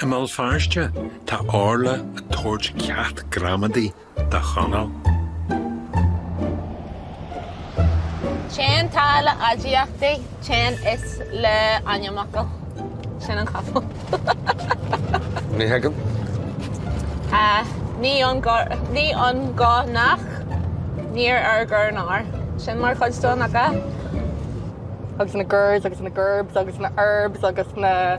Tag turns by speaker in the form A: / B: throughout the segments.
A: I mBéal Feirste, tá Orla ag tabhairt ceacht gramadaí do
B: Chonall. Téann tá le aidiachtaí? Téann is le ainmfhocail? Sin an chopail.
A: Ní
B: thuigim. Ní an go nach, níor ar gur nár. Sin mar chuid den, nach ea?
C: agus na gurs agus na gurbs agus na arbs agus na.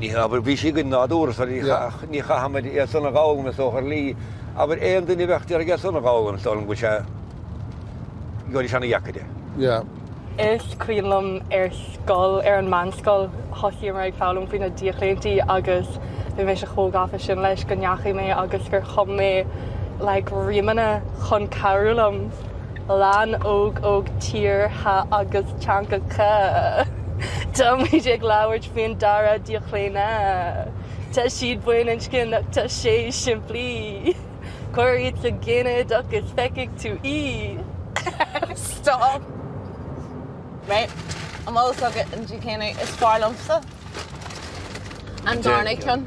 A: Ní hea, abair, bhí sí againn nádúrtha, so ní, ní chaithimid iad san a dh'fhoghlaim is dócha, ar shlí, abair, aon duine a bheadh ag iarraidh iad san a dh'fhoghlaim is dóigh liom go bhfuil sé, gheobhaidís an-deacair
D: é. Is cuimhin
C: liom ar scoil, ar an meánscoil, thosaíomar ag foghlaim faoi na díochlaontaí agus bhí mise chomh gafa sin leis go ndeachaigh mé agus gur chum mé like rímeanna chun cabhrú liom. Lann Óg Eog Tíortha agus Teangacha Táimid ag labhairt faoin dara díochlaonadh Tá siad baininscneach, tá sé simplí Cuir iad sa ginideach is feicfidh tú
B: í Stop mé, an bhfuil fhios agat an díochlaonadh is fearr liomsa? An darna ceann.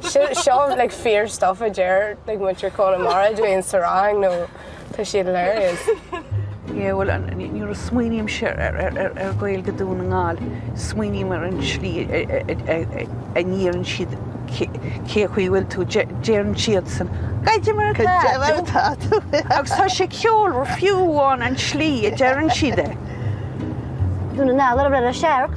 C: Seo like fíor stuff a deir like muintir Chonamara dúinn sa rang nó tá siad hilarious. Yeah
E: bhuel nuair a smaoinímse ar Ghaeilge Dún na nGall smaoiním ar an slí a ndeireann siad cén chaoi a bhfuil tú deireann siadsan Caidé mar atá tú agus tá sé ceolmhar fiú amháin an slí a deireann siad é.
F: Dún na nGall ar a bhreith le searc.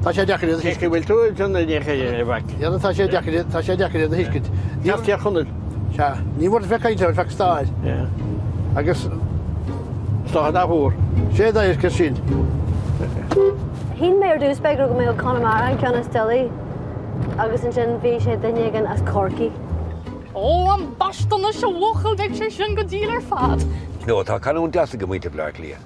D: Tá sé deacair iad a thuiscint. Cé bhfuil tú ag déanamh ag ithe,
G: a mhac? Déanann, tá sé deacair
D: iad, tá sé deacair iad a thuiscint. Níor Tír
G: Chonaill. Sea, ní bhfuair
D: fé cainte ar feadh stáir. Yeah. Agus.
G: Stáir nach bhfuair. Sé dá iascair sin.
F: Shíl mé ar dús beidh go mbeadh Conamara an ceann is doilí agus ansin bhí sé daoine as Corcaigh. Ó
C: ambaiste anois a bhuachaill beidh sé sin go diail ar fad. Nó tá canúint
A: deas ag muintir Bhleá Cliath.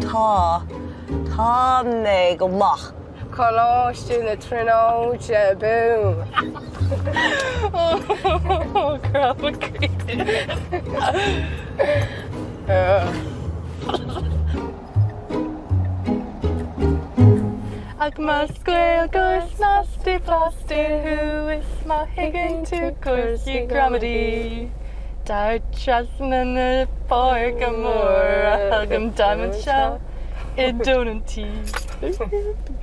F: Tá.
B: Tá mé go maith. Coláiste
C: na Tríonóide Boom! Ach más Gaeilgeoir snasta blasta thú is má thuigeann tú cúrsaí gramadaí, Tar trasna na páirce móire chugam táim anseo i dtóin an tí.